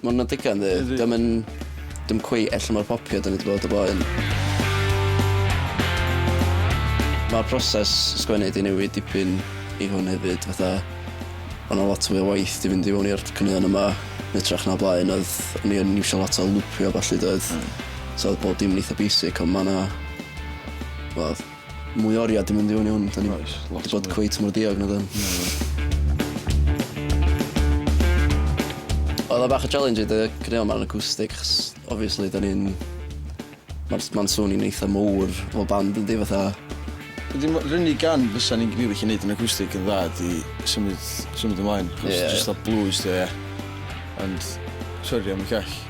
Ma' wnna'n digon ddu. Yndi. 'Dio'm yn... Dim cweit ella mor popi a 'dyn ni 'di bod o blaen. Ma'r proses sgwennu 'di newid dipyn i hwn hefyd fatha o' 'na lot fwy o waith 'di fynd i mewn i'r caneuon yma yn ytrach na o blaen odd o'n i yn iwsio lot o lwpio a ballu doedd? Hmm. So odd bob dim yn eitha basic on' ma' 'na wel Mwy o oriau di mynd i fyny hwn. Da ni wedi bod cweit mor diog na dyn. Oedd o bach o challenge i dy gynio ma'n acoustic, chos obviously da ni'n... Mae'n ma swn i'n eitha mowr o band yn di fatha... Dim rynnu gan fysa ni'n gwneud chi wneud yn acoustic yn dda di symud, symud ymlaen. Cos yeah. just o blues di, ie. Ond, sorry am y call.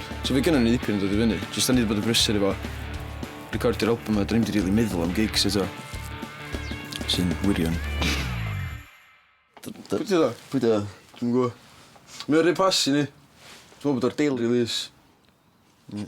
So fi gynno ni ddipyn yn dod i fyny. Jyst da ni 'di bod yn brysur efo recordio'r album a 'dyn ni'm 'di rili meddwl am gigs eto. Sy'n wirion. D- d-... Pwy 'di o? Pwy 'di o? Dwi'm yn gwbo. Mae o rhy posh i ni. Dwi me'wl bod o'r daily release. Hmm.